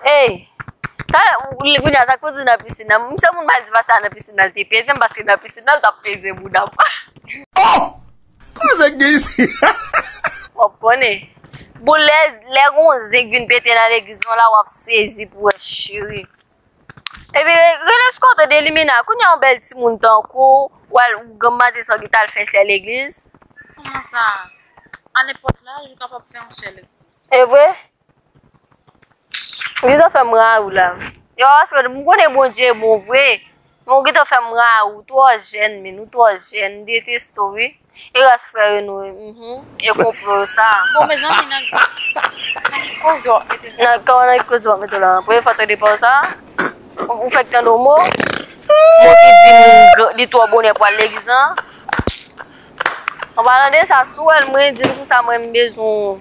Ey sa kounye a sa pou di nan piscine nan m se moun madiva sa nan piscine nan l te peze m paske nan piscine nan l tap peze bouda m oh koze k gen isi. Wap konnen. Bon lè lè gon zen k vin pete nan legliz mwen la wap sezi pou wè cheri. Epi rele sko tande elimina kounya yon bèl timoun tankou w wal ou gen mande sa w gin tal fè sè legliz. Kouman sa? A nenpòt laj ou kapab fè yon sè legliz. Evre? Ou gentan fèm ra ou la. Yo aske m konnen Bondye bon vre, men ou gentan fèm ra ou twò jèn menn, ou twò jèn, m deteste w wi. E rès frè yo nou yo, e konplo yo sa. Bon mezanmi nan ki koze wap mete la. Nan kòman nan ki koze wap mete w la. Premye fwa tande pawòl sa. Ou fèk tande yon mo, mo ki di moun li twò bonè pou al legliz lan. An palan de sa, si w wè l mwen di l konsa mwen m bezwen w.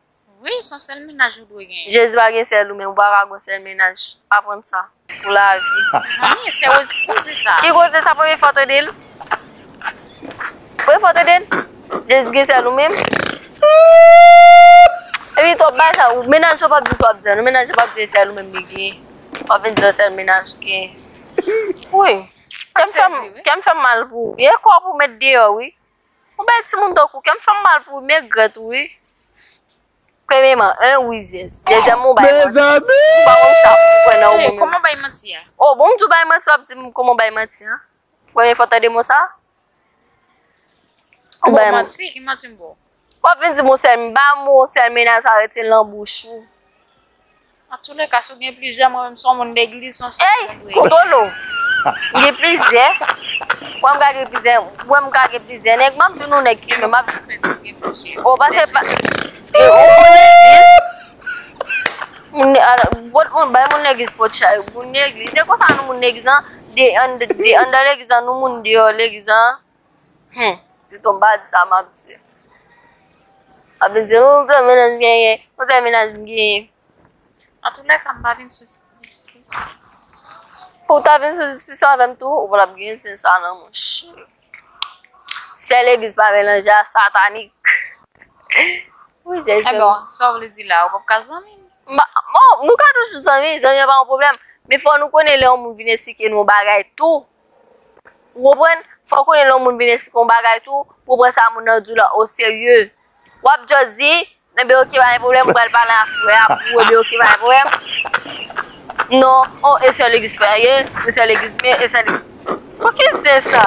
Wi son sèl mennaj ou dwe genyen. Jezi pa gen sèl ou men ou pa ka gon sèl mennaj aprann sa pou lavi. Zanmi sè Rose ki koze sa. Ki koze sa premye fwa tandel. Premye fwa tandel Jezi gen sèl ou menm. Epi tou ap bay sa ou mennaj ou pap di sa wap di an non mennaj ou pap di sèl ou menm li gen wap vin di yo sèl mennaj ou gen. Wouyy kèm fèm mal pou ou ye kòw pou mèt deyò wi. Ou bèl timoun tankou kèm fèm mal pou ou mègrèt ou wi premyeman 1 ou rizyèz dezyèman ou bay manti ou pa konn sa pou kwè nan ou menm kòman bay manti a oh bon m di w bay manti wap di m kòman w bay manti a premye fwa w tande mo sa ou bay manti ki manti m ba w wap vin di m yon sèl m ba m yon sèl menas arete l nan bouch ou. An tou le ka si w gen plizyè mwen menm son moun legliz son sou moun dwe. Ey kondolo gen plizyè wèm ka gen plizyè wèm ka gen plizyè nèg map di nou nèg ki menm map di fèt gen plizyè o pase pa moun legliz moun pot moun bay moun legliz pot chay moun legliz se konsa nou moun legliz an de anndan legliz an nou moun deyò legliz an. Humm pito bad sa map di. Wap vin di humm konzè menaj m genyen, konzè menaj m genyen. Nan tout lèka m pa vin sou diskisyon. Ou ta vin sou diskisyon avè m tou ou pa tap gen zen sa nan monchè. Sè legliz pa melanje a satanik. Wi jèn sè. Ebon sa w vle di la ou pap ka zanmi m? Bon nou ka toujou zanmi, zanmi an pa yon pwoblèm. Men fò nou konnen lè yon moun vin esplike nou yon bagay tou. Ou konprann? Fòw konnen lè yon moun vin esplike yon bagay tou, pou pran sa moun nan di w la o serye. Wap just di, enben ok pa gen pwoblèm m pral pale ak frè a pou enben ok pa gen pwoblèm. Non, o e sè legliz frè an ye, e sè legliz m ye, e sè legliz. Bon ki zen sa?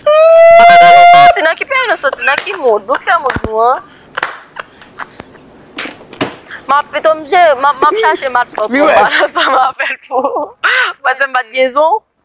Bon kote nou soti, nan ki peyi nou soti, nan ki mond, nou k fè mond nou an? Map pito m jere, map chache matpòp mwen pa nan sa m avèl pou mwen di m pat gen zon.